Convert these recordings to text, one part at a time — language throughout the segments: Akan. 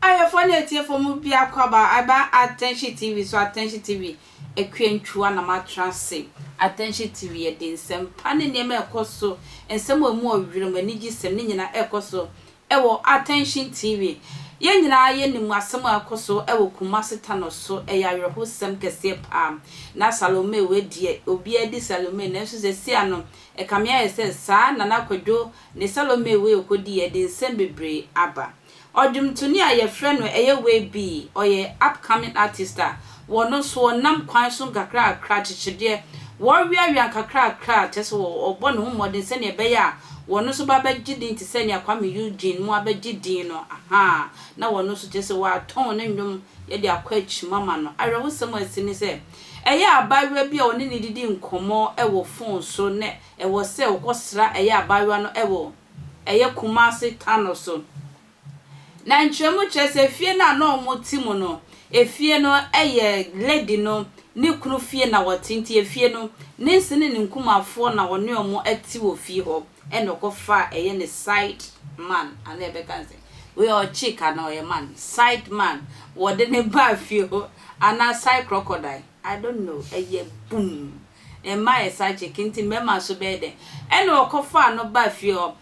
Ayɛfoɔ ne atiefoɔ mu biako aba aba Attention TV so Attention TV akua ntwua na moatra ase Attention TV yɛde nsɛmpa ne nneɛma a ɛkɔ so nsɛm a ɛmu ɔwerɛm anigyesɛm ne nyinaa ɛkɔ so Wɔ Attention TV, yɛn nyinaa yɛnim asɛm a ɛkɔ so wɔ Kumasi Tanɔ so, ɛyɛ awerɛhosɛm kɛseɛ paa. Na Salome wei deɛ, obiara di Salome, nanso sesia no, ɛkame ayɛ sɛ saa Nana Kwadwo ne Salome wei ɔkɔdi yi ɛde nsɛm bebree aba. Ɔdwomtoni a yɛfrɛ no ɛyɛ wei bi, ɔyɛ upcoming artist a Wɔno nso wɔnam kwan so nkakrakra, akyekyedeɛ, wɔweawea nkakrakra, kyerɛ sɛ wɔbɔ ne ho mmɔden sɛdeɛ ɛbɛyɛ a wɔno nso ba bɛgye din te sɛ nea Kwame Eugene mu abɛgye din no, ahaa, na wɔno nso kyerɛ sɛ wɔatɔn ne nnwom de akɔ akyim ama no. Awerɛhosɛm a asi ne sɛ, ɛyɛ abaayewa bi a wɔne no redidi nkɔmmɔ wɔ fon so na ɛwɔ sɛ wɔkɔsra ɛyɛ abaayewa no wɔ ɛyɛ Kumasi Tano so. Na nkyerɛmu kyerɛ sɛ fie no a na wɔte mu no, efie no yɛ lady no ne kunu fie na wɔte, nti efie no, ne nse ne ne nkumafoɔ na wɔne wɔn te wɔ fie hɔ, ɛna ɔkɔfaa ɛyɛ ne side man anaa yɛbɛka no sɛn, wei ɔyɛ chick anaa ɔyɛ man, side man, wɔde no baa fie hɔ anaa side crocodile, I don't know, ɛyɛ bumm. Mma yɛ psychic nti mmarima nso bɛyɛ dɛn? Ɛna ɔkɔfaa no baa fie hɔ.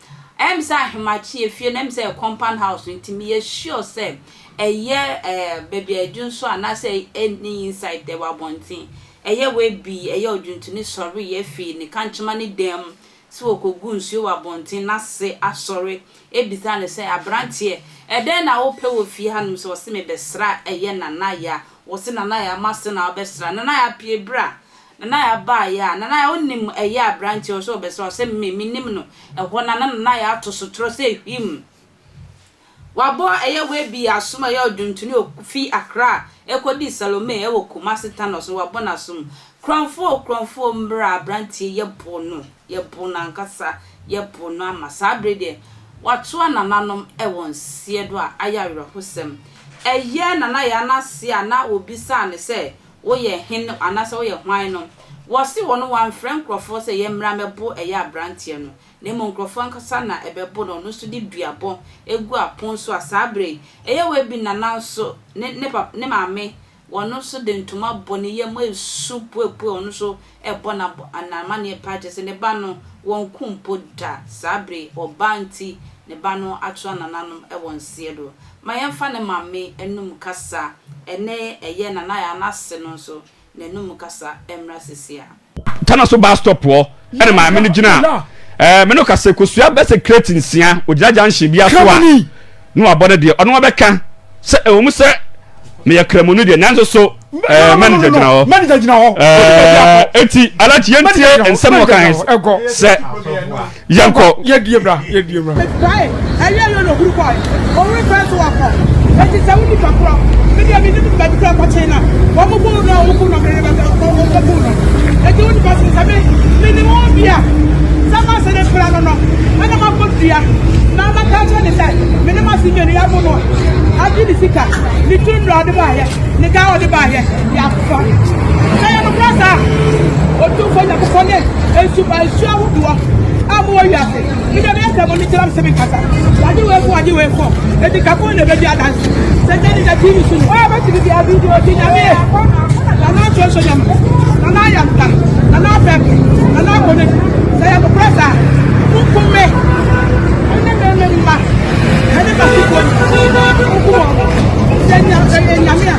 Ɛyɛ me sɛ Ahemachi yɛ fie no ɛyɛ me sɛ ɛyɛ compound house no nti meyɛ sure sɛ ɛyɛ ɛɛ baabi a ɛdwo nso anaasɛ ɛnni inside ɛwɔ abɔnten. Ɛyɛ wei bi ɛyɛ odwontoni sɔreeɛ fii ne kankyema ne dan mu. sɛ wɔkɔgu nsuo wɔ abɔnten na se asɔre bisa no sɛ, Aberanteɛ, ɛdɛn na wopɛ wɔ fie hanom sɛ ɔse mebɛsra ɛyɛ Nanaya? Wɔse Nanaya ma se na ɔbɛsra. Nanaya pue bra. Nanaya baeɛ a, Nanaya wonim ɛyɛ a aberanteɛ ɔse ɔbɛsra? Ɔse me, menim no. Ɛhɔ no a na Nanaya ato sotorɔ sɛ hwimm. Wabɔ ɛyɛ Webi asom ɛyɛ ɔdwontoni o fi Accra ɛkɔdii Salome ɛwɔ Kumasi Thanos no wabɔ n'asom Kurɔmfoɔ o Kurɔmfoɔ o mmra abranteɛ yɛbo no yɛbo no ankasa yɛbo no ama saa bere deɛ watoa nananom ɛwɔ nseɛ do a ayɛ awerɛhosɛm ɛyɛ Nana Yaa n'ase a na wɔbisaa no sɛ woyɛ hen anaasɛ woyɛ hwan no wɔse wɔn wamfrɛ nkurɔfoɔ sɛ yɛmmra mɛbo ɛyɛ abranteɛ no na mmom nkurɔfo ankasa na ɛbɛbo no, ɔno nso de dua bɔ gu apon so a saa bere yi ɛyɛ wo abi nana nso ne ne papa ne maame wɔn nso de ntoma bɔ ne yam a esu puepue ɔno nso ɛbɔ na n'amanneɛ paa kyerɛ sɛ ne ba no wɔnku mpo da saa bere yi ɔbaa nti ne ba no atoa nananom wɔ nseɛ do ma yɛmfa ne maame anum kasa ɛnɛ ɛyɛ nana ayɛ anase no nso N'anom kasa mmra sese a. Tanaso bus stop hɔ na maame no gyina a me no ka sɛ kosua bɛsɛ crate nsia ogyina junction bia so a na wabɔ ne deɛ ɔno abɛka sɛ ɛwɔ mu sɛ meyɛ kramoni deɛ nanso so manager gyina hɔ ɛɛ eti alakye yɛntie nsɛm ɔkan sɛ yɛnkɔ. yɛ die bra yɛ die bra. ɛdwae ɛyɛ yɛ na ohuru kɔe ɔwere fɛ so wakɔ ɛti sɛ wodi fa korɔ mi deɛ mi nim baabi kura kɔkye na wɔn mo bu na wɔn bu na mi bɛ kɔ wɔn mo bu na ɛti wodi fa so sɛ mi mi ni wɔn bia sɛ ma se ne fira no no ɛna ma kɔ dua na ma ka kyɛ ne sɛ mi ni ma si mi ni ya bo no adi ni sika ni tu nura ɔdi ba yɛ ni ga ɔdi ba yɛ yɛ. Sɛ yɛ nokorɛ saa a, Otumfoɔ Nyankopɔn ne nsumaa nsuo ahodoɔ a mowɔ wiase, mede me asɛm no gyina me sɛ menkasa. Wɔagye wei ko, wɔagye wei ko, enti ka ko na ɛbɛdi adanse. Sɛ gya ne gya TV so ni. Wɔn a wɔbɛtumi bia video gye Nyame yɛ. Nana nsuonsuo Nyame, Nana ayɛ nta, Nana afɛ ko, Nana akɔ n'akyi. Sɛ yɛ nokorɛ saa a, monkum me, ɛne me ne mma, ɛne m'asefoɔ nyinaa, monkum wɔn. Sɛ Nyame a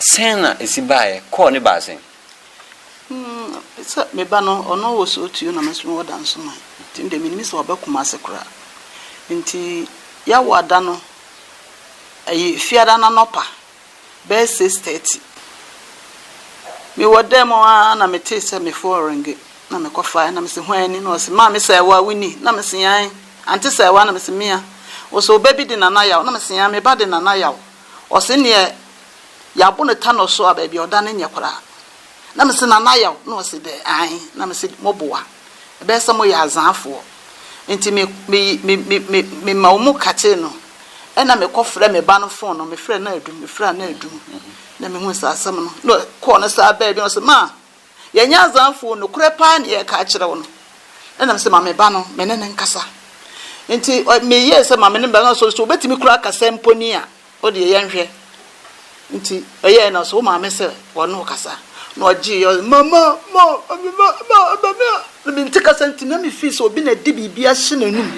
Sɛn na esi baeɛ? Kɔɔ ne baa sɛn? Mm, sɛ me ba no, ɔno wɔ so Otuo na me nso mewɔ Dansoman. Nti me deɛ mennim sɛ waba Kumase koraa. Nti Yawoada no, ɛyɛ Fiada no anɔpa bɛyɛ six thirty, mewɔ dan mu ara na metee sɛ me phone renge, na mekɔfaeɛ na mese hwan ni? Na ɔse maame Sɛɛwaa wo ni? Na mese ae, Ante Sɛɛwaa? Na mese mea. Ɔse wo ba bi de Nana Yaw? Na mese ae, me ba de Nana Yaw. ɔse neɛ yɛabo no ta no so a baabi a ɔda no nyɛ koraa na mese nana yaw na ɔse dɛ ae na mese moboa ɛbɛyɛ sɛ moyɛ azaafoɔ nti me me me me me mema ɔmu kakyee no ɛna mekɔ frɛ me ba no fon no mefrɛ no adum mefrɛ no adum na mehuu saa asɛm no na kɔɔ no saa baabi na ɔse maa Yɛ nyɛ azanfoo, nokorɛ paa na yɛreka akyerɛ wo no. Ɛna me se, ma me ba no, me ne no nkasa. Nti me yɛɛ sɛ ma me ne me ba no nkasa, sɛ obetumi koraa akasa mpo ni a, wo deɛ yɛn hwɛ. Nti ɔyɛɛ na ɔse, wo maame sɛ wɔ ne wo kasa. Na ɔgyee yɛ, ɔse, mama, ma, me ba, ma, ma me a. Na me nte kasa nti na me feel sɛ obi na ɛde biribi ahyɛ n'anum.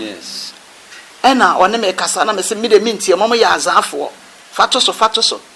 Ɛna ɔne me kasa, na me se, me deɛ me ntie, mo mo yɛ azanfoɔ, fa to so, fa to so.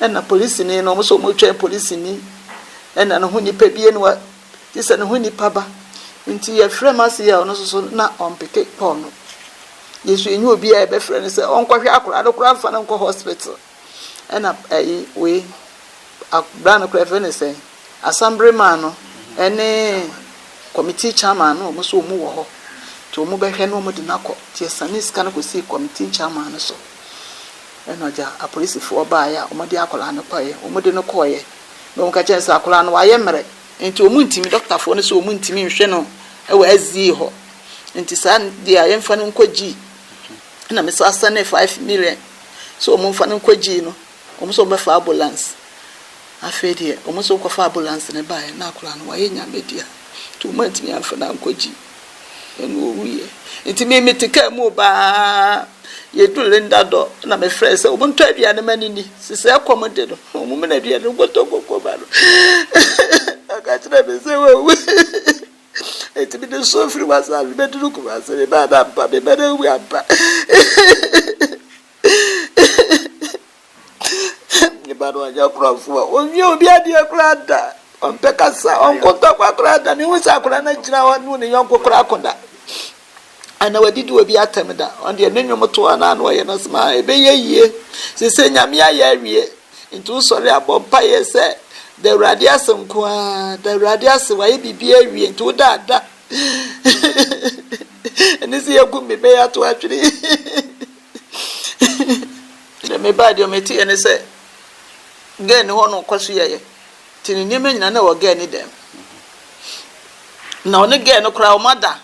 Ɛna polisini no, wɔn nso wɔretwɛn polisini. Ɛna ne ho nipa bi aniwa gye sɛ ne ho nipa ba. Nti yɛfrɛ Marcia a ɔno nso so na ɔmpeke Paul no. Yesu enyi obi a yɛbɛfrɛ no sɛ ɔnkɔhwɛ akwadaa no koraa mfa no nkɔ hospital. Ɛna ɛyi wei akwadaa no koraa fɛ ne sɛ asambere maa no ɛne committee chairman no wɔn nso wɔn wɔ hɔ. Nti wɔn bɛhwɛ no wɔn de no akɔ. Nti yɛsane sika no kɔsii committee chairman no so. Ɛna ɔgya apolisifoɔ baeɛ a wɔde akwadaa no kɔeɛ. Wɔde no kɔeɛ na wɔka kyerɛ no sɛ akwadaa no wayɛ mmerɛ nti wɔntumi, dɔktafoɔ no sɛ wɔntumi nhwɛ no wɔ SDA hɔ nti saa deɛ a yɛmfa no nkɔ gyii. Ɛna me saa sɛne five million sɛ wɔmfa no nkɔ gyii no, wɔn nso wɔbɛfa ambulance. Afei deɛ wɔn nso kɔfa ambulance no baeɛ na akwadaa no wayɛ nyame dea nti wɔantumi amfa no ankɔ gyii. Ɛna ɔwuiɛ. Nti me mete kaa mu baa yɛduru Linda dɔ na mefrɛɛ sɛ wɔn ntɔ aduane ma no nni. Sesɛ ɛkɔm de no, wɔn mene aduane no nkɔtɔ nkɔkɔ ma no. Ɔka kyerɛɛ me sɛ wawu. Nti mede nsuo mfiri Wasaase bɛduru Kumase, me ba no ampa, me ba no awu ampa. Ne ba no anyɛ korɔmfo a onwie obi adeɛ koraa da. Ɔmpɛ kasa, ɔnko ntɔkwa koraa da. Mehu sɛ akwadaa no agyina hɔ ne ne yɔnko koraa ko da. Ana wadidi obi atɛm da. Ɔno deɛ ne nnwom to a na ano ɔyɛ no smaa. Ɛbɛyɛ yie. Sese Nyame ayɛ awie. Nti wosɔre a bɔ mpaeɛ sɛ da Awurade ase nko ara. Da Awurade ase wayɛ biribi awie. Nti woda a da. Ɛne sɛ yɛagu me bɛyɛ ato atwene. Nti me bae deɛ meteɛ ne sɛ girl no hɔ no ɔkɔ so yɛyɛ nti ne nneɛma nyinaa na ɛwɔ girl no dan mu na ɔne girl no koraa ɔma da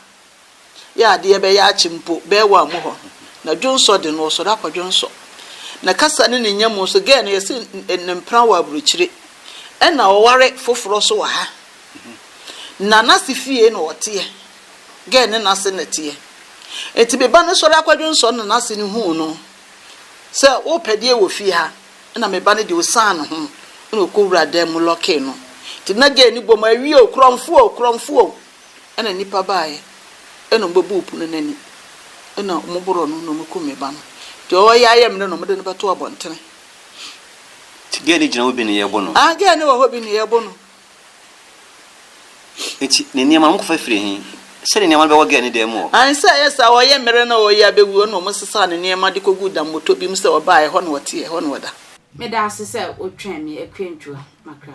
yɛ adeɛ bɛyɛ akye mpo bɛɛ wɔ amu hɔ na dwonsɔ de no ɔsɔre akɔ dwonsɔ na kasa ne ne nya mu nso girl no yɛsi ne mpena wɔ aburukyire ɛna ɔware foforɔ so wɔ ha na n'ase fie na ɔteɛ. Gɛɛ ne n'ase na ɛteɛ. Enti me ba no sɔre akɔdwonsɔ no na n'ase no huu no sɛ worepɛ deɛ wɔ fie ha, ɛna me ba no deɛ ɔsian ne ho na ɔkɔwuraa dan mu lɔkee no. Enti na Gɛɛ no bɔ mu, Awie o, korɔmfoɔ o, korɔmfoɔ o! Ɛna nnipa baeɛ na wɔbɛbuu pono no ani na wɔboroo no na wɔkum me ba no. Deɛ ɔwɔ yea yɛ mmerɛ na wɔde no bɛto abɔntene. Nti Gɛɛ no gyina hɔ bi na yɛrebo no? Aane, Gɛɛ no wɔ hɔ bi na yɛrebo no. Enti ne nneɛma, wɔkɔfa firii he? Sɛdeɛ nneɛma no bɛwɔ Gɛɛ ne dan mu hɔ. Ansa a ɛyɛ saa, ɔyɛ mmere na ɔreyɛ abɛwuo no, wɔsesaa ne nneɛma de kɔguu dammɔtɔ bi mu sɛ ɔbaeɛ, ɛhɔ na ɔteɛ, ɛhɔ na ɔda. Meda ase sɛ wotwɛn me akwantuo makra.